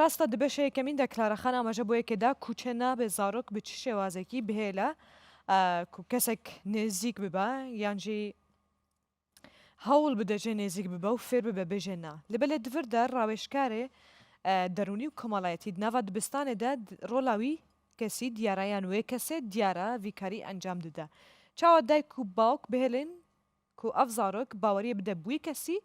راستە دبێ شە یەکەمین دە کلارە خان ئاماژە بۆ یەکێ دا کو چێ نابێ زارۆک بە چ شێوازێکی بهێ لە کو کەسێک نێزیک ببە یان ژی هەوڵ بدە ژێ نێزیک ببە و فێر ببە بێ ژێ نا لە بە لێ دڤر دە راوێژکارێ دەرونی و کۆمەڵایەتی دناڤا دبستانێ دە رۆلاوی کەسی دیارە یان وێ کەسێ دیارە ڤیکاری ئەنجام ددە چاوە دایک و باوک بهێلین کو ئەڤ زارۆک باوەریێ بدە بوی کەسی،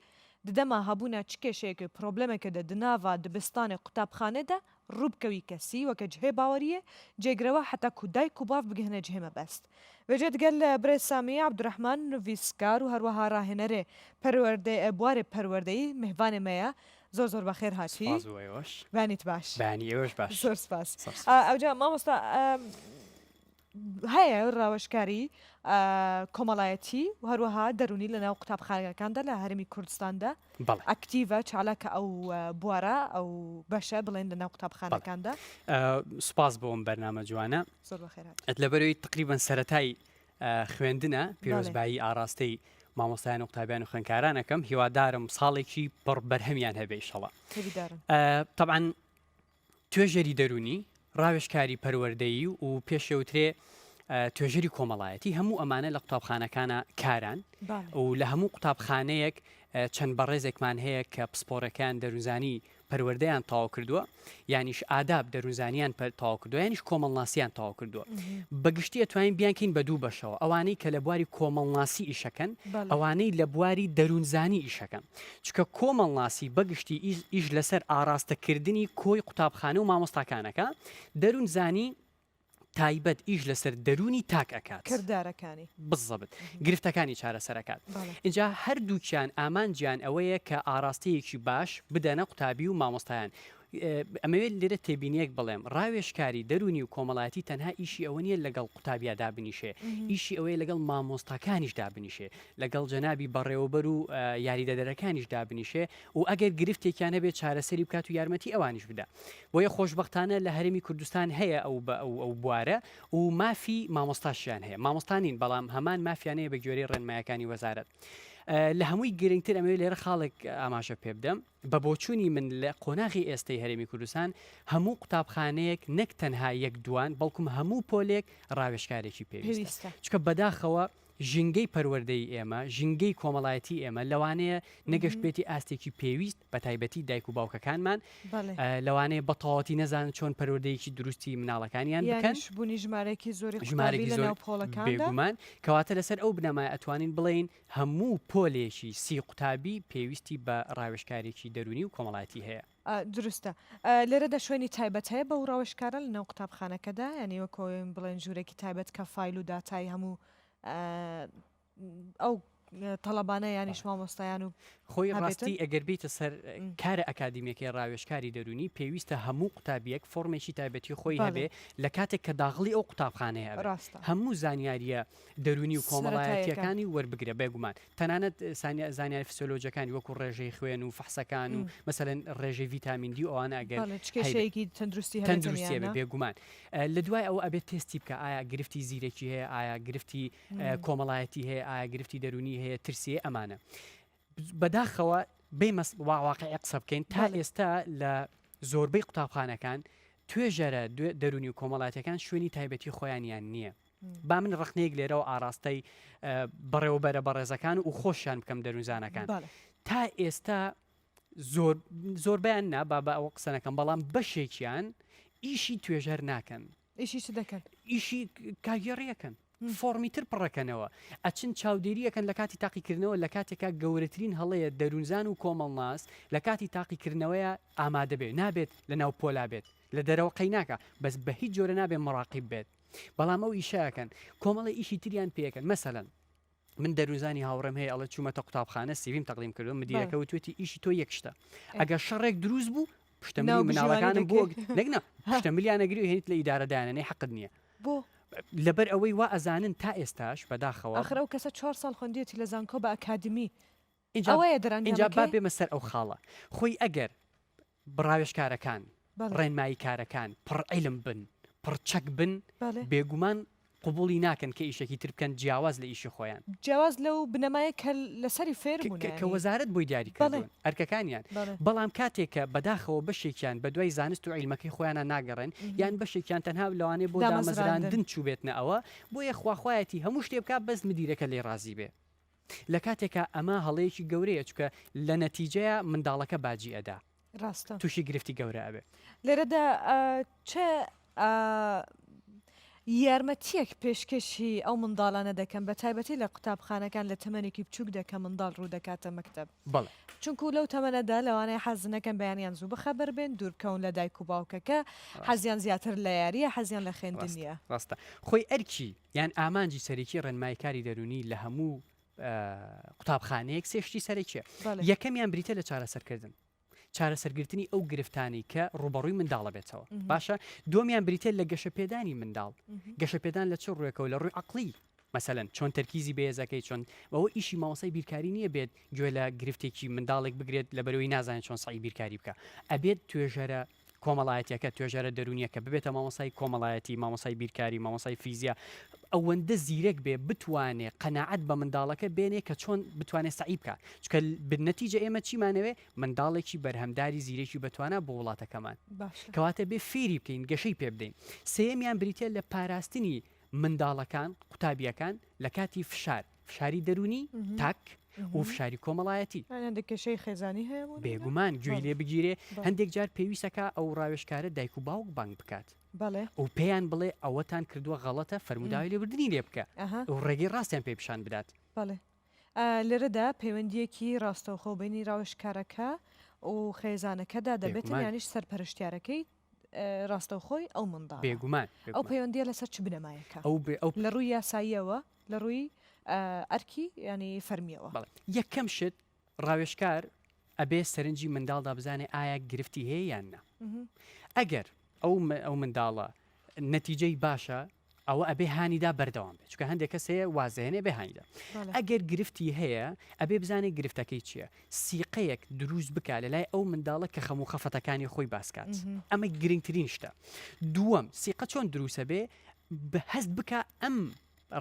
ددەما هەبونە چ کێشەیەک و پرۆبلێمێک دە دناڤە دبستان و قوتابخانێ دە روو بکەوی کەسی وەکە جهێ باوەریێ جێ گرەوە حەتا کو دایک و باڤ بگهنە جهێ مەبەست. وێجە دگەل برێ سامی عەبدورەحمان نوویسکار و هەروەها راهێنەرێ پەروەردەی ئە بوارێ پەروەردەیی مهڤانێ مەیە زۆر زۆر بەخێر هاتی. سپاس بۆ ئێوەش. بەیانیت باش. بەیانی ئێوەش باش. زۆر سپاس. ئەوجا مامۆستا ئە. هەیە ڕاوێژکاری کۆمەڵایەتی و هەروەها دەرونی لە ناو قوتابخانەکاندا لە هەرمی کوردستاندا بەڵێ ئەکتیڤە چالاکە ئەو اه، بوارە ئەو بەشە بڵێن لە ناو قوتابخانەکاندا ئە، سوپاس بۆ ئەم بەرنامە جوانە زۆر بەخێرات ئەت لەبەرەوەی تقریبا سەتای خوێندنە بەڵێ پێرۆزبایی ئاراستەی مامۆستایان و قوتابیان و خوێنکارانەکەم هیوادارم ساڵێکی پڕ بەرهەمیان هەبێ ئیشەڵا هیویدارم تەبعەن توێژەری دەروونی، ڕاوێژکاری پەروەردەیی و پێشەوترێ توێژەری کۆمەڵایەتی هەموو ئەمانە لە قوتابخانەکانە کاران و لە هەموو قوتابخانەیەک چەند بەڕێزێکمان هەیە کە پسپۆڕەکان دەروزانی پەروەردەیان تاو کردووە یانیش ئاداب دەروزانیان پەر تاو کردو یانیش کۆمەڵناسیان تاو کردووە بەگشتی ئەتوانین بیانکەین بە دوو بەشەوە ئەوانەی کە لە بواری کۆمەڵناسی ئیشەکەن ئەوانەی لە بواری دەروونزانی ئیشەکەن چونکە کۆمەڵناسی بەگشتی ئیش لەسەر ئاراستەکردنی کۆی قوتابخانە و مامۆستاکان ئەکا، دەروونزانی تایبەت ئیش لەسەر دەروونی تاک ئەکات. کردارەکانی. بززەبت گرفتەکانی چارەسەر ئەکات. بەڵێ. ئینجا هەردووکیان ئامانجیان ئەوەیە کە ئاراستەیەکی باش بدەنە قوتابی و مامۆستایان. ئەمەوێت لێرە تێبینیەک بڵێم، ڕاوێژکاری دەروونی و کۆمەڵایەتی تەنها ئیشی ئەوە نییە لەگەڵ قوتابیا دابنیشێ، ئیشی ئەوەیە لەگەڵ مامۆستاکانیش دابنیشێ، لەگەڵ جەنابی بەڕێوەبەر و یاریدەدەرەکانیش دابنیشێ و ئەگەر گرفتێکیان هەبێ چارەسەری بکات و یارمەتی ئەوانیش بدا. بۆیە خۆشبەختانە لە هەرێمی کوردستان هەیە ئەو ئەو بوارە و مافی مامۆستاشیان هەیە. مامۆستا نین، بەڵام هەمان مافیان هەیە بەگوێرەی ڕێنمایەکانی وەزارەت. لە هەمووی گرنگتر ئەمەوێت لێرە خاڵێک ئاماژە پێ بدەم، بە بۆچوونی من لە قۆناغی ئێستەی هەرێمی کوردستان هەموو قوتابخانەیەک نەک تەنها یەک دووان بەڵکم هەموو پۆلێک ڕاوێژکارێکی پێویستە چونکە بەداخەوە ژینگەی پەروەردەی ئێمە ژینگەی کۆمەڵایەتی ئێمە لەوانەیە نەگەشت بێتی ئاستێکی پێویست بە تایبەتی دایک و باوکەکانمان لەوانەیە بە تەواتی نەزانن چۆن پەروەردەیەکی دروستی مناڵەکانیان بکەن بوونی ژمارەیەکی زۆری ژمارەی زۆر پۆڵەکان بێگومان کەواتە لەسەر ئەو بنەمای ئەتوانین بڵین هەموو پۆلێکی سی قوتابی پێویستی بە ڕاوێژکارێکی دەروونی و کۆمەڵایەتی هەیە. دروستە لێرەدا شوێنی تایبەت هەیە بەو ڕاوێژکارە لەناو قوتابخانەکەدا، یانی وەکۆ بڵێن ژوورێکی تایبەت کە فایل و داتای هەموو ئەو تەڵەبانە یانیش مامۆستایان و خۆی ڕاستی ئەگەر بیتە سەر کارە ئەکادیمیەکەی ڕاوێژکاری دەرونی پێویستە هەموو قوتابیەک فۆرمێکی تایبەتی خۆی هەبێ لە کاتێک کە داغڵی ئەو قوتابخانەیە ڕاستە هەموو زانیاریە دەروونی و کۆمەڵایەتییەکانی وەربگرە، بێگومان تەنانەت زانیاری فسیۆلۆجییەکانی وەکو ڕێژەی خوێن و فەحسەکان و مەسەلەن ڕێژەی ڤیتامین دی و ئەوانە ئەگەر چ کێشەیەکی تەندروستی هەبێت تەندروستی هەبێت بێگومان لە دوای ئەوە ئەبێت تێستی بکە ئایا گرفتی زیرەکی هەیە ئایا گرفتی کۆمەڵایەتی هەیە ئایا گرفتی دەروونی هەیە ترسێ ئەمانە بەداخەوە بێمە واقعی قسە بکەین تا ئێستا لە زۆربەی قوتابخانەکان توێژەرە دەرونی و کۆمەڵاتەکان شوێنی تایبەتی خۆیانیان نییە با من ڕخنەیەک لێرەوە ئاراستەی بەڕێوەبەرە بەڕێزەکان و خۆشیان بکەم دەروزانەکان تا ئێستا زۆر زۆربیان نا با بە ئەوە قسەنەکەم بەڵام بەشێکیان ئیشی توێژەر ناکەن ئیشی چ دەکەن؟ ئیشی کاگێڕی ئەکەن. فۆڕمی تر پڕەکەنەوە. ئەچن چاودێری ئەکەن لە کاتی تاقیکردنەوە لە کاتێکا گەورەترین هەڵەیە دەروونزان و کۆمەڵناس لە کاتی تاقیکردنەوەی ئامادە بێ نابێت لە ناو پۆلا بێت لە دەرەوە قەیناکا بەس بە هیچ جۆرە نابێ مڕاقیب بێت بەڵام ئەو ئیشە ئەکەن کۆمەڵێ ئیشی تریان پێ ئەکەن مەسەلەن من دەروزانی هاوڕێم هەیە ئەڵە چوومەتە قوتابخانە سیویم تەقدیم کردو مدیرەکە وتوێتی ئیشی تۆ یەک شتە ئەگە شەڕێک دروست بوو پشتە مناڵەکانم بۆ نەگنا پشتە ملیانەگری هێنیت لە ئیدارەدانەی حەقت نییە بۆ لەبەر ئەوەی وا ئەزانن تا ئێستاش بەداخەوە ئەخرە و کەسە چوار ساڵ خوندێتی لە زانکۆ بە ئەکادمی ئینجا با بێمە سەر ئەو خاڵە خۆی ئەگەر ڕاوێژکارەکان، ڕێنماییکارەکان پڕ عیلم بن، پڕ چەک بن، بێگومان قبوڵی ناکەن کە ئیشێکی تر بکەن جیاواز لە ئیشی خۆیان، جیاواز لەو بنەمایە کە لەسەری فێربوون، کە وەزارەت بۆی دیاری کردوون ئەرکەکانیان، بەڵام کاتێک کە بەداخەوە بەشێکیان بەدوای زانست و عیلمەکەی خۆیانە ناگەڕێن، یان بەشێکیان تەنها لەوانەیە بۆ دامەزراندن چووبێتنە ئەوە، بۆیە خواخوایەتی هەموو شتێ بکات بەس مدیرەکە لێی ڕازی بێ. لە کاتێکا ئەمە هەڵەیەکی گەورەیە چونکە لە نەتیجەیا منداڵەکە باجی ئەدا ڕاستە تووشی گرفتی گەورە ئەبێ لێرەدا چ یارمەتیەک پێشکەشی ئەو منداڵانە دەکەم بە تایبەتی لە قوتابخانەکان لە تەمەێکی بچووک دەکە منداڵ ڕوو دەکاتە مەکتب بڵ چونکو لەو تەمەەدا لەوانەیە حەزنەکەم بەیانیان زوو بەخەبەر بێن دوورکەون لە دایک و باوکەکە حەزیان زیاتر لە یاریە حەزیان لە خوێندنیە ڕاستە خۆی ئەرکی یان ئامانجی سەرەکی ڕێنمای کاری دەرونی لە هەموو قوتابخانەیەک سێ شتی سەرەکیە یەکەمیان بریتە لە چارەسەرکردن چارەسەرگرتنی ئەو گرفتانی کە ڕوبەڕووی منداڵە بێتەوە باشە دومیان بریتە لە گەشە پێدانی منداڵ گەشە پێدان لە چ ڕوێکەوە لە ڕووی عقلی مەسەن چۆن تەرکیزی بەێزەکەی چۆن بەەوە ئیشی ماوەسای بیرکاری نییە بێت گوێ لە گرفتێکی منداڵێک بگرێت لە بەرەوەی نازانێت چۆن سعی بیرکاری بکە ئەبێت توێژەرە کۆمەڵایەتیەکە، توێژەرە دەروونیەکە، ببێتە مامۆستای کۆمەڵایەتی، مامۆستای بیرکاری، مامۆستای فیزیا، ئەوەندە زیرەک بێ بتوانێ قەناعەت بە منداڵەکە بێنێ کە چۆن بتوانێ سەعی بکا، چونکە بن نەتیجە ئێمە چیمانەوێ منداڵێکی بەرهەمداری زیرەکی بەتوانا بۆ وڵاتەکەمان. باشە. کەواتە بێ فێری بکەین گەشەی پێ بدەین. سێیەمیان بریتیە لە پاراستنی منداڵەکان، قوتابیەکان، لە کاتی فشار. فشاری دەرونی تاک و فشاری کۆمەڵایەتی کێشەی خێزانی هەیە بێگومان گوێی لێ بگیرێ هەندێک جار پێویستەکە ئەو ڕاوێشکارە دایک و باوک بانگ بکات بەڵێ ئەو پێیان بڵێ ئەوەتان کردووە غەڵەتە فەرموداوی لێبردننی لێ بکە ئەو ڕێگەی ڕاستیان پێ پیشان بدات بەڵێ لێرەدا پەیوەندیەکی ڕاستەوخۆ بینی ڕاوشکارەکە و خێزانەکەدا دەبێت یانیش سەرپەرشتیارەکەی ڕاستەوخۆی ئەو منداڵە. بێگومان، بێگومان. ئەو پەیوەندیە لەسەر چ بنەمایەکە ئەو بێ ئەو لە ڕووی یاساییەوە لە ڕووی آه، ئەرکی ینی فەرمیەوە بەڵێ یەکەم شت ڕاوێژکار ئەبێ سەرنجی منداڵدا بزانێ ئایا گرفتی هەیە یان نا ئەگەر ئەو م- ئەو منداڵە نەتیجەی باشە ئەوە ئەبێ هانیدا بەردەوام بێت چکە هەندێک کەس هەیە وازێنێ بێ هانیدا ئەگەر گرفتی هەیە ئەبێ بزانێت گرفتەکەی چییە سیقەیەک دروست بک لە لای ئەو منداڵە کە خەموو خەفەتەکانی خۆی باسکات ئەمە گرنگترین شتە دووەم سیقە چۆن دروسە بێ هەست بکە ئەم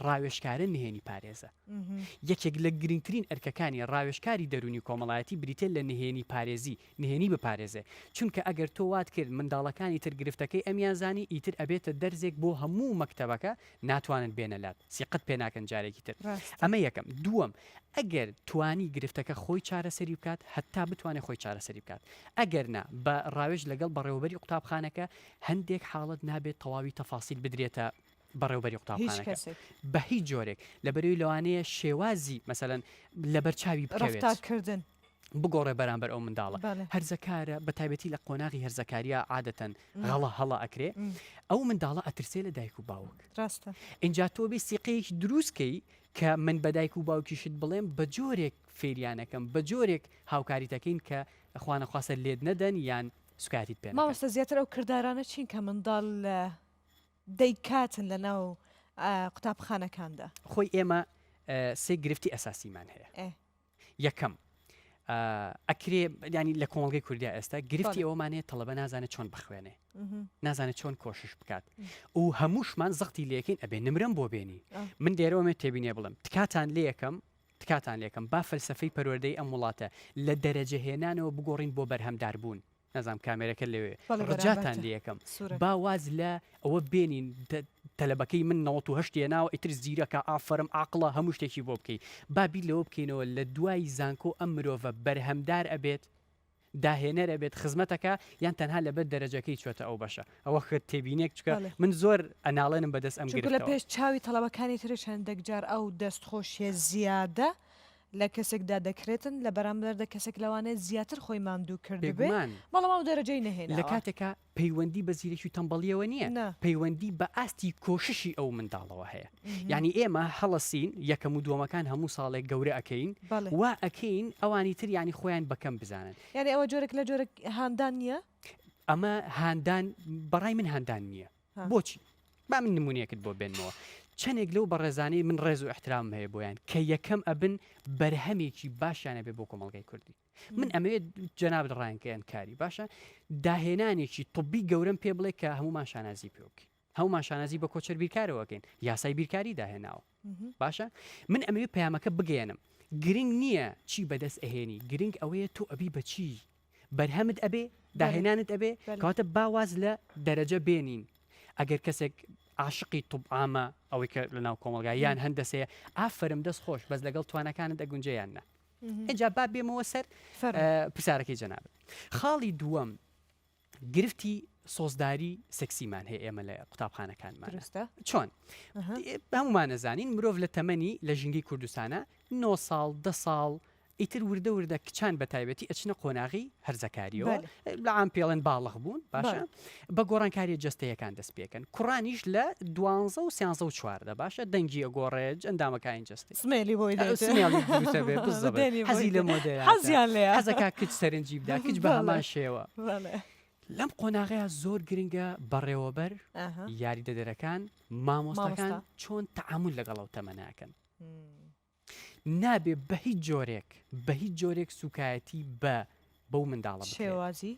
ڕاوێشکارە نهێنی پارێزە یەکێک لە گرنگترین ئەرکەکانی ڕاوێشکاری دەرونی کۆمەڵایەتی بریتێن لە نهێنی پارێزی نهێنی بپارێزێ چونکە ئەگەر تۆ وات کرد منداڵەکانی تر گرفتەکەی ئەمیان زانی ئیتر ئەبێتە دەرزێک بۆ هەموو مەکتەبەکە ناتوانن بێنە لات سیقەت پێ ناکەن جارێکی تر ڕاستە. ئەمە یەکەم دووەم ئەگەر توانی گرفتەکە خۆی چارەسەری بکات هەتا بتوانێ خۆی چارەسەری بکات ئەگەر نا بە ڕاوێژ لەگەڵ بەڕێوەبەری قوتابخانەکە هەندێک حاڵەت نابێت تەواوی تەفاسیل بدرێتە بەڕێوبەری قوتابخانەکە بە هیچ جۆرێک لەبەرئەوی لەوانەیە شێوازی مەسەلەن لەبەر چاوی بکەوێت بگۆڕێ بەرامبەر ئەو منداڵە هەرزەکارە بە تایبەتی لە قۆناغی هەرزەکاریە عادەتەن غەڵە هەڵە ئەکرێ ئەو منداڵە ئەترسێ لە دایک و باوک ڕاستە ئینجا تۆ بێ سیقەیەکی دروستکەی کە من بە دایک و باوکیشت بڵێم بە جۆرێک فێریانەکەم بە جۆرێک هاوکاری دەکەین کە خوانەخواسە لێت نەدەن یان سوکایەتیت پێ ماوەسە زیاتر ئەو کردارانە چین کە منداڵ لە دەیکاتن لە ناو قوتابخانەکاندا. خۆی ئێمە سێ گرفتی ئەساسیمان هەیە. یەکەم ئەکرێ ینی لە کۆمەڵگەی کوردیا ئێستا گرفتی ئەومان هەیە تەڵەبە نازانێت چۆن بخوێنێ نازانێت چۆن کۆشش بکات و هەمووشمان زەختی لەکەین ئەبێ نمرم بۆ بێنی من دێرەوەێ تێبینێ بڵم تکاتان لێ یەکەم تکاتان لێکم با فەلسفەی پەروەردەی ئەم وڵاتە لە دەرەجە هێنانەوە بگۆڕین بۆ بەرهەمدار بوون نازانم کامێرەکە لەوێ بەڵێ ڕجاتان بەرامبەرتە لێیەکەم سورە. با واز لە ئەوە بێنین تە تەلەبەکەی من نەوەت و هەشت هێناوە ئیتر زیرەکە ئافەرم عاقڵە هەموو شتێکی بۆ بکەی با بیر لەوە بکەینەوە لە دوای زانکۆ ئەم مرۆڤە بەرهەمدار ئەبێت داهێنەر ئەبێت خزمەت ئەکا یان تەنها لەبەر دەرەجەکەی چۆتە ئەو بەشە ئەوە خێت تێبینێک چکە بەڵێ من زۆر ئەناڵێنم بەدەست ئەم چونکە لە گرفتەوە. پێش چاوی تەڵەبەکانی ترە چەندەک جار ئەو دەست خۆشیە زیادە لە کەسێکدا دەکرێتن لە بەرامبەردا کەسێک لەوانەیە زیاتر خۆی ماندوو کردبێ بێگومان بەڵام ئەو دەرەجەی لە نەهێناوە. کاتێکا پەیوەندی بە زیرەکی و تەمبەڵیەوە نیە نا. پەیوەندی بە ئاستی کۆششی ئەو منداڵەوە هەیە یانی ئێمە هەڵە سین یەکەم و دوەمەکان هەموو ساڵێک گەورە ئەکەین بەڵێ. وا ئەکەین ئەوانی تر یانی خۆیان بە کەم بزانن. یانی ئەوە جۆرێک لە جۆرە هاندان نیە؟ ئەمە هاندان بەڕای من هاندان نیە. بۆچی؟ با من نمونەیەکت بۆ بێنمەوە، چەندێک لەو بەڕێزانەی من ڕێز و ئیحترامم هەیە بۆیان کە یەکەم ئەبن بەرهەمێکی باشیان ئەبێ بۆ کۆمەڵگای کوردی. من ئەمەوێت جەنابت ڕایان کەیەنکاری باشە داهێنانێکی طبی گەورەم پێ بڵێ کە هەمومان شانازی پێ بکەین. هەمومان شانازی بە کۆچەر بیرکارەوەکەین یاسای بیرکاری داهێناوە. باشە من ئەمەوێ پەیامەکە بگەیەنم گرنگ نییە چی بەدەست ئەهێنی گرنگ ئەوەیە تۆ ئەبی بەچی بەرهەمت ئەبێ داهێنانت ئەبێ کەواتە باواز لە دەرەجە بێنین ئەگەر کەسێک عاشقی طبعاامە ئەوەی کە لە ناو کۆمەلگا یان هەندەسەیە ئافرم دەست خۆش بەس لەگەڵ توانەکانت ئەگونجیان نە ئەجا با بێمەوە سەر پرسیارەکەی جەنابێت خاڵی دووەم گرفتی سۆزداری سکسیمان هەیە ئێمە لە قوتابخانەکانمان چۆن هەمومان نەزانین مرۆڤ لە تەمەنی لە ژینگەی کوردستانە 9 ساڵ ده ساڵ ئیتر وردە وردە کچان بە تایبەتی ئەچنە قۆناغی هەرزەکاریەوە لە ئام پێڵێن باڵخ بوون باشە بە گۆڕانکاریە جستەیەکان دەست پێکەن کوڕانیش لە دوانزە و سیانزە و چواردە باشە دەنگی ئەگۆڕێج ئەندامەکانی جستێ سمێلی بۆی دێت. سمێڵی دروستە بێت بزە بێت. دێنی بۆی حەزی لە دێت. مۆدەیە حەزیان لێیە. حەزەکە کچ سەرنجی بدا کچ بە بەڵێ. هەمان شێوە بەڵێ. لەم قۆناغەیە زۆر گرنگە بەڕێوەبەر ئاها. یاریدەدەرەکان مامۆستاکان مامۆستا. چۆن تەعامول لەگەڵ ئەو تەمەناکەن مم. نابێ بە هیچ جۆرێک بە هیچ جۆرێک سوکایەتی بە بەو منداڵە بکرێت شێوازی.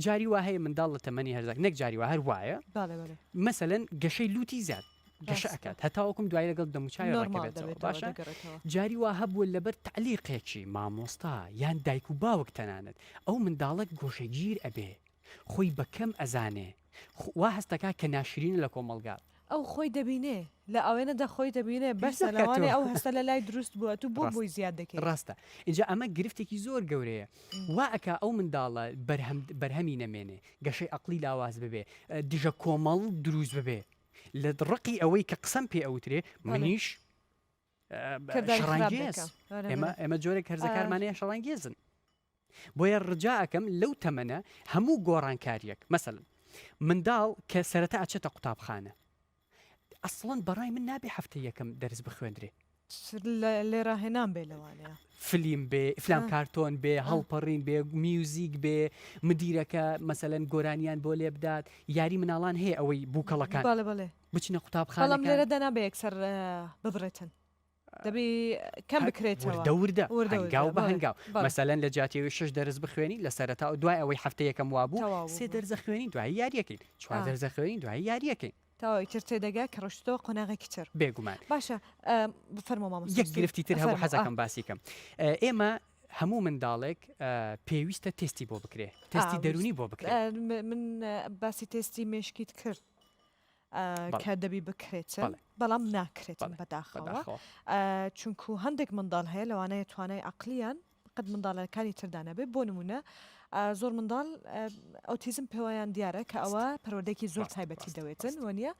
جاری وا هەیە منداڵ لە تەمەنی هەرزەک نەک جاری وا هەر وایە بەڵێ بەڵێ. مەسەلەن گەشەی لووتی زیاد گەشە ڕاستە. ئەکات هەتاوەکوم دوایی لەگەڵ دەموچاوی نۆرماڵ ڕێکەوێتەوە دەبێتەوە باشە دەگەڕێتەوە. جاری وا هەبووە لەبەر تەعلیقێکی مامۆستا یان دایک و باوک تەنانەت ئەو منداڵە گۆشەگیر ئەبێ خۆی بە کەم ئەزانێ خو وا هەست دەکات کە ناشرینە لە کۆمەڵگا. ئەو خۆی دەبینێ لە ئاوێنەدا خۆی دەبینێ بەسە لەوانەیە ئەو هەستە لە لای دروست بووە تو بۆ بۆی زیاد دەکەی. ڕاستە ئینجا ئەمە گرفتێکی زۆر گەورەیە وا ئەکا ئەو منداڵە بەرهەم بەرهەمی نەمێنێ گەشەی ئەقڵی لاواز ببێ دژە کۆمەڵ دروست ببێ لە ڕقی ئەوەی کە قسەم پێ ئەوترێ منیش کرداری خراپ دەکا ئێمە ئێمە جۆرێک هەرزەکارمانەیە شەڕانگێزن. بۆیە ڕجا ئەکەم لەو تەمەنە هەموو گۆڕانکاریەک مەسەلەن منداڵ کە سەرەتا ئەچێتە قوتابخانە ئەسڵەن بەڕای من نابێ هەفتەی یەکەم دەرس بخوێندرێ لێراهێنان بێ لەوانەیە فلیم بێ فلام کارتۆن بێ هەڵپەڕین بێ میوزیک بێ مدیرەکە مەسەلەن گۆرانیان بۆ لێ بدات یاری مناڵان هەیە ئەوەی بووکەڵەکان بچنە قوتابخانەڵم لێرە دەنا بە یەکسەر ببرێتن دەبی کەم بکرێتەوە وردە وردە هەنگاو بە هەنگاو مەسەلەن لە جاتیەوەی شەش دەرس بخوێنی لە سەرەتا و دوای ئەوەی هەفتە یەکەم وابوو سێ دەرزە خوێنی دوایی یاریەکەین چوار دەرزە خوێنی دوایی یاریەکەین تاوا ئیتر تێدەگا کە ڕشتەوە قۆناغێکی تر بێگومان باشە بفەرمۆ مامۆ یەک گرفتی تر هەبوو حەزەکەم باسی کەم ئێمە هەموو منداڵێک پێویستە تستی بۆ بکرێ تستی دەرونی بۆ بکرێت من باسی تستی مشکیت کرد کە دەبی بکرێتن بەڵام ناکرێتن بەداخەوە چونکو هەندێک منداڵ هەیە لەوانەیە توانای عقلیان قەت منداڵەکانی تردانەبێ بۆ نمونە زۆر منداڵ ئۆتیزم پێوەیان دیارە کە ئەوە پەرۆدێکی زۆر تایبەتی دەوێتن وە نیە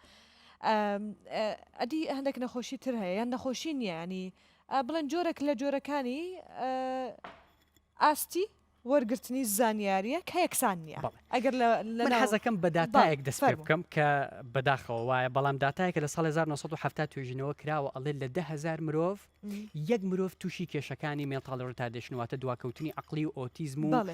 ئەدی هەندێک نەخۆشی تر هەیە یان نەخۆشی نییە ینی بڵێن جۆرەك لە جۆرەکانی ئاستی وەرگرتنی زانیاریە کە یەکسان نیە ئەگەر لە من حەزەکەم بە داتایەک دەست پێ بکەم کە بەداخەوە وایە بەڵام داتایەکە لە ساڵ 1970 توێژینەوە کراوە ئەڵێ لە ده هزار مرۆڤ یەک مرۆڤ تووشی کێشەکانی مێنتاڵ ڕتادێشن واتە دواکەوتنی عقلی و ئۆتیزم و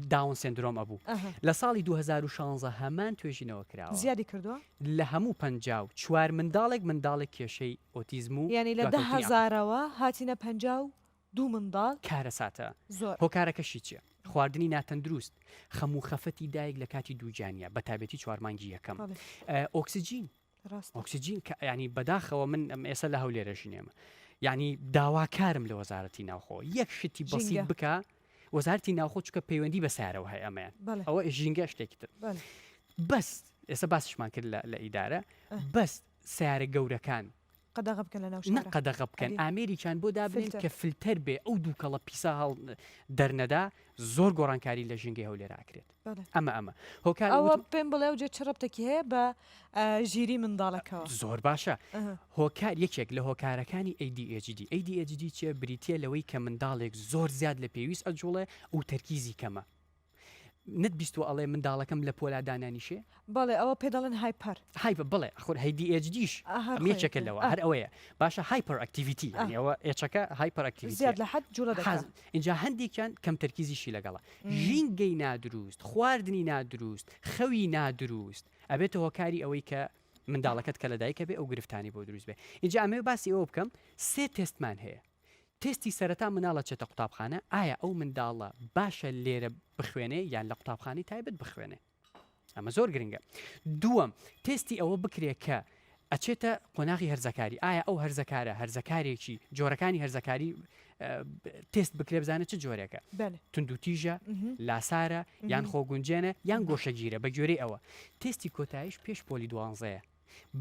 داون سندرۆم ئەبوو لە ساڵی 2016 هەمان توێژینەوە کراوە زیادی کردووە لە هەموو پ و چوار منداڵێک منداڵێک کێشەی ئۆتیزم و ینی لە ده هزارەوە هاتینە پ و دوو منداڵ کارەساتە زۆر. هۆکارەکەشی چیە؟ خواردنی ناتەندروست، خەم و خەفەتی دایک لە کاتی دووگیانیا بە تابێتی چوار مانگی یەکەم. بەڵێ ئۆکسجین ڕاستە. ئۆکسجین کە یانی بەداخەوە من ئێستا لە هەولێرەش نێم یانی داواکارم لە وەزارەتی ناوخۆ یەک شتی بەسیت ژینگە. بکا وەزارەتی ناوخۆ چکە پەیوەندی بە سارەوە هەیە ئەمەیان بەڵێ ئەوە ژینگە شتێکی تر بەڵێ. بەس ئێستا باسیشمان کرد لە لە ئیدارە اه. بەس سارە گەورەکان قەدەغە بکەن لەناو شارە. نە قەدەغە بکەن ئامێریکیان بۆ دابنێن کە فلتەر بێ ئەو دووکەڵە پیسە هەڵ دەرنەدا زۆر گۆڕانکاری لە ژینگەی هەولێر ئاکرێت ئەمە ئەمە هۆکار ئەوە پێم بڵێ و جێ چ ڕبتێکی هەیە بە ژیری منداڵەکەەوە زۆر باشە هۆکار یەکێک لە هۆکارەکانی ADHD ADHD چێ بریتە لەوەی کە منداڵێک زۆر زیاد لە پێویست ئەجوڵێ و تەرکیزی کەمە نەت بیستوە ئەڵێ منداڵەکەم لە پۆلا دانانیشێ؟ بەڵێ ئەوە پێ دەڵێن هایپەر. هایپەر بەڵێ خۆر هەی دی ئێچ دیش ئەم یەکێکە لەوە هەر ئەوەیە باشە هایپەر ئەکتیڤیتی یانی ئەوە ئێچەکە هایپەر ئەکتیڤیتی زیاد لە حەد جووڵە دەکات حەز ئینجا هەندێکیان کەم تەرکیزیشی لەگەڵە ژینگەی نادروست خواردنی نادروست خەوی نادروست ئەبێتە هۆکاری ئەوەی کە منداڵەکەت کە لە دایکە بێ ئەو گرفتانی بۆ دروست بێ ئینجا ئەمەوێ باسی ئەوە بکەم سێ تێستمان هەیە تێستی سەرەتا مناڵ ئەچێتە قوتابخانە ئایا ئەو منداڵە باشە لێرە بخوێنێ یان لە قوتابخانەی تایبەت بخوێنێ ئەمە زۆر گرنگە دووەم تێستی ئەوە بکرێ کە ئەچێتە قۆناغی هەرزەکاری ئایا ئەو هەرزەکارە هەرزەکارێکی جۆرەکانی هەرزەکاری تست بکرێ بزانە چ جۆرێکە تونندوتیژە لاسارە یان خۆگونجێنە یان گۆشەگیرە بە گوێرەی ئەوە تستی کۆتایش پێش پۆلی دوانزەیە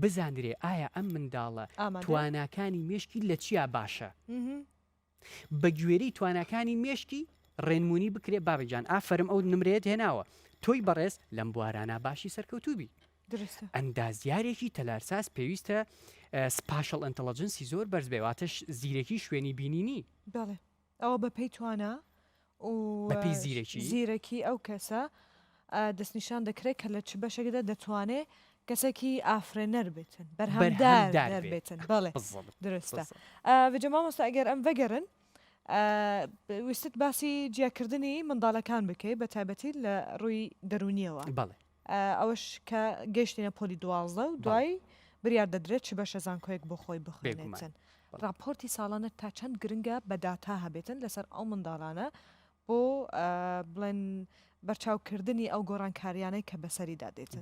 بزاندرێ ئایا ئەم منداڵە تواناکانی مێشکی لە چیا باشە بە گوێری تواناکانی مێشکی ڕێنمونی بکرێ بابە گیان ئافرم ئەو نمرێت هێناوە تۆی بەڕێز لەم بوارانە باشی سەرکەوتوبی ئەندازیارێکی تەلارساز پێویستە سپاشڵ ئەتەڵەجنسی زۆر بەرز بێواتەش زیرەکی شوێنی بینینی ئەوە بە پێی توانا و زیرەکی ئەو کەسە دەستنیشان دەکرێت کە لە چ بەشێکدا دەتوانێت کەسێکی ئافرێنەر بێتن بەرهەمدار بێتن بەڵێ درستە بجە مامۆستا ئەگەر ئەم بەگەرن ویستت باسی جیاکردنی منداڵەکان بکەیت بە تایبەتی لە ڕووی دەرونیەوە بەڵێ ئەوەش کە گەیشتینە پۆلی دوازدە و دوای بریار دەدرێت چ بەشە زانکۆیەک بۆ خۆی بخوێنێتن. ڕاپۆرتی ساڵانە تا چەند گرنگە بە داتا هەبێتن لەسەر ئەو منداڵانە بۆ بڵێن بەرچاوکردنی ئەو گۆڕانکاریانەی کە بەسەریدا دێتن؟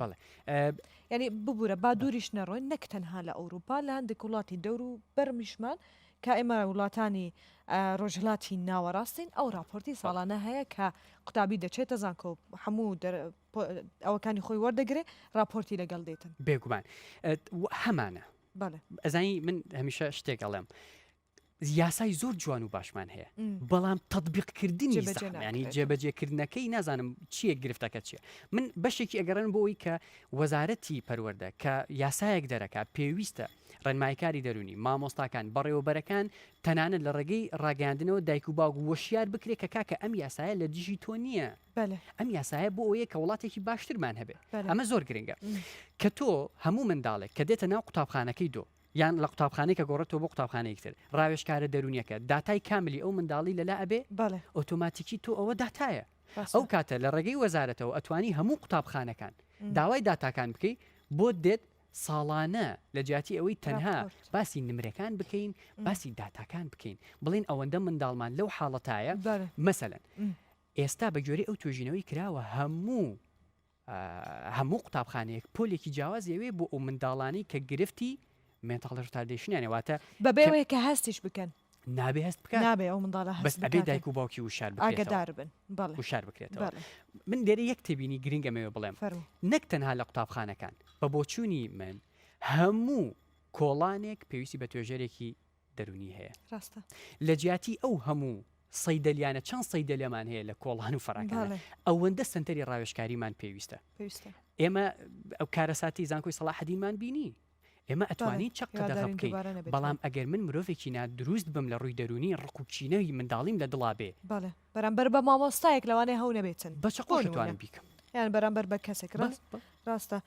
یعنی ببوورە با دووریش نەڕۆین نەک تەنها لە ئەوروپا لە هەندێک وڵاتی دەور و بەرمیشمان کە ئێمە وڵاتانی ڕۆژهەڵاتی ناوەڕاستین ئەو ڕاپۆرتی ساڵانە هەیە کە قوتابی دەچێتە زانکۆ و هەموو ئەوەکانی خۆی وەردەگرێ ڕاپۆرتی لەگەڵ دێتن بێگومان هەمانە ئەزانی من هەمیشە شتێک ئەڵێم یاسای زۆر جوان و باشمان هەیە بەڵام تطببیقکردنی ینی جێبەجێکردنەکەی نازانم چیە گرفتەکە چیە من بەشێکی ئەگەڕێن بۆی کە وەزارەتی پەروەەردە کە یاسایەک دەرەکە پێویستە ڕێنماییکاری دەروونی، مامۆستاکان، بەڕێوەبەرەکان، تەنانەت لە ڕێگەی ڕاگەیاندنەوە دایک و باوک وەشیار بکرێت کە کاکە ئەم یاسایە لە دژی تۆ نییە، ئەم یاسایە بۆ ئەوەیە کە وڵاتێکی باشترمان هەبێت، ئەمە زۆر گرنگە کە تۆ هەموو منداڵێک کە دێتە ناو قوتابخانەکەی دۆ یان لە قوتابخانەی کە گۆڕێتەوە بۆ قوتابخانەیەکی تر ڕاوێژکارە دەروونیەکە داتای کاملی ئەو منداڵی لەلا ئەبێ ئۆتۆماتیکی تۆ ئەوە داتایە ئەو کاتە لە ڕێگەی وەزارەتەوە ئەتوانی هەموو قوتابخانەکان داوای داتاکان بکەی بۆت دێت ساڵانە لە جیاتی ئەوەی تەنها ڕاپۆرت. باسی نمرەکان بکەین باسی داتاکان بکەین بڵێین ئەوەندە منداڵمان لەو حاڵەتایە بەڵێ. مەسەلەن م. ئێستا بە گوێرەی ئەو توێژینەوەی کراوە هەموو ئا هەموو قوتابخانەیەک پۆلێکی جیاواز ئەوێ بۆ ئەو منداڵانەی کە گرفتی مێنتاڵ ڕتاردەیشنیانە واتە بە بێ کە ئەوەی کە هەستیش بکەن. نابێ هەست بکە نابێ ئەو منداڵە هەست بێ دایک و باوکی وشار ئاگدار بن وشار بکرێتەوە من دێرە یەک تێبینی گرنگە مەوێ بڵێم نەک تەنها لە قوتابخانەکان بە بۆچوونی من هەموو کۆڵانێک پێویستی بە توێژەرێکی دەرونی هەیە ڕاستە لە جیاتی ئەو هەموو سەیدەلیانە چەند سەیدەلێمان هەیە لە کۆڵان و فەراکان ئەوەندە سنتەری ڕاوێشکاریمان پێویستە پێویستە ئێمە ئەو کارەساتی زانکۆی سەڵاحدینمان بینی ئێمە ئەتوانین چەق قەدەغە بکەین، بەڵام ئەگەر من مرۆڤێکی نا دروست بم لە ڕووی دەروونی، ڕق و کینەی منداڵیم لە دڵا بێ. بەڵێ، بەرامبەر بە مامۆستایەک لەوانەیە هەو نەبێتن. بە چەقۆش ئەتوانم بیکەم. یان بەرامبەر بە کەسێک. ڕاستە.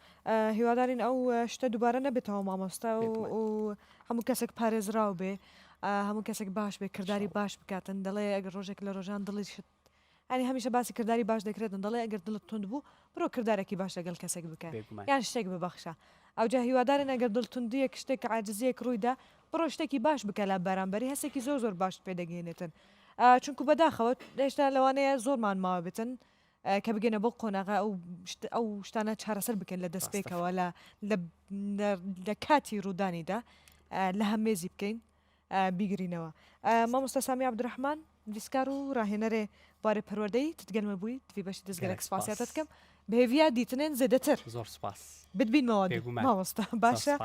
هیوادارین ئەو شتە دووبارە نەبێتەوە مامۆستا و هەموو کەسێک پارێزراو بێ. هەموو کەسێک باش بێ کرداری باش بکاتن دەڵێ ئەگەر ڕۆژێک لە ڕۆژان دڵیشت یانی هەمیشە باسی کردداری باش دەکرێتن دەڵێ ئەگەر دڵت تند بوو برۆ کردارێکی باش لەگەڵ کەسێک بکە یان شتێک ببەخشە ئەوجا هیوادارن ئەگەر دڵتوندیەک شتێک عادزیەک ڕوویدا بڕۆ شتێکی باش بکە لە بارانبەری هەسێکی زۆر زۆر باش پێدەگەێنێتن چونکو بەداخەوەت هێشتا لەوانەیە زۆرمان ماوە بتن کە بگەنە بۆ قۆناغا ئەو ئەو شتانە چارەسەر بکەن لە دەستپێکەوە لە لە کاتی ڕوودانیدا لە هەمێزی بکەین بیگرینەوە مامۆستا سامی عبدالرحمن ویستکار و راهێنەرێ بوارێ پەروەردەی تتگەلمە بووی دوی بەشی دەستگەلەک سپاسیاتە دکەم بهێویا دیتنێن زێدەتر زۆر سپاس بتبینمەوە مامۆستا باشە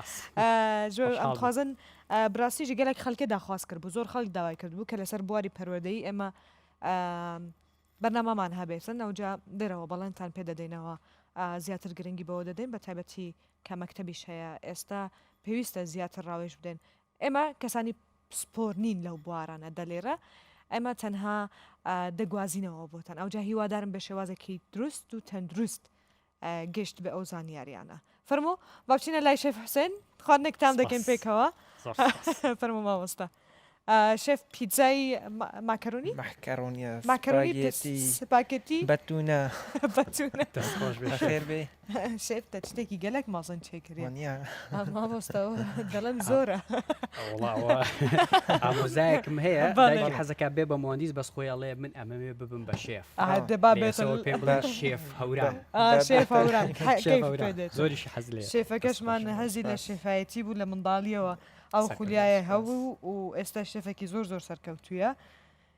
زۆر ئەمخوازن براسیژی گەلێک خەلکە داخواست کرد بوو زۆر خەڵک داوای کرد بوو کە لەسەر بواری پەروەردەی ئێمە بەرنامەمان هەبێتن ئەوجا دەرەوە بەڵێنتان پێ دەدەینەوە زیاتر گرنگی بەوە دەدەین بە تایبەتی کە مەکتتەبیش هەیە ئێستا پێویستە زیاتر ڕاوێژ بدەن ئێمە کەسانی پسپۆر نین لەو بوارانە دەلیڕ ئێمە تەنها دەگوازینەوە بۆتان ئەوجا هیوادارم بە شێوازێکی دروست و تەندروست گەشت بە ئەو زانیاریانە فەرمو باچینە لای شێف حوسێن خواردنێکتان دەکەین پێکەوە فەرمو مامۆستا شێف پیتزای ماکەرونی ماکەرونی ماکەرونی سپاکێتی بەتونە بەتونە خێر بێ شێف تە شتێکی گەلەک مەزن چێکرێ مامۆستا دەڵم زۆرە ئامۆزایەکم هەیە باڵی حەزەکە بێ بە مۆندیز بەس خۆی ئەڵێ من ئەمەوێ ببم بە شێف دەبا بێت پێ بڵێ شێف هەورام شێف هەورام زۆریش حەز لێ شێفەکەشمان هەزی لە شێفایەتی بوو لە منداڵیەوە ئەو خولیایە هەبوو و ئێستا شێفێکی زۆر زۆر سەرکەوتویە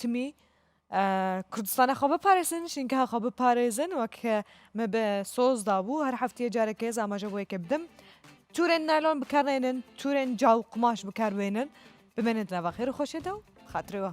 تمی کوردستانە خۆ بپارێزن شینکە خۆ بپارێزن وەک مە بە سۆز دابوو هەر هەفتەیە جارەکە هێز ئاماژە بۆ یەکە بدەم تورێن نالۆن بکارێنن تورێن جاو قماش بکاربێنن بمێنێت لە بەخێر خۆشێتە و خاترەوە.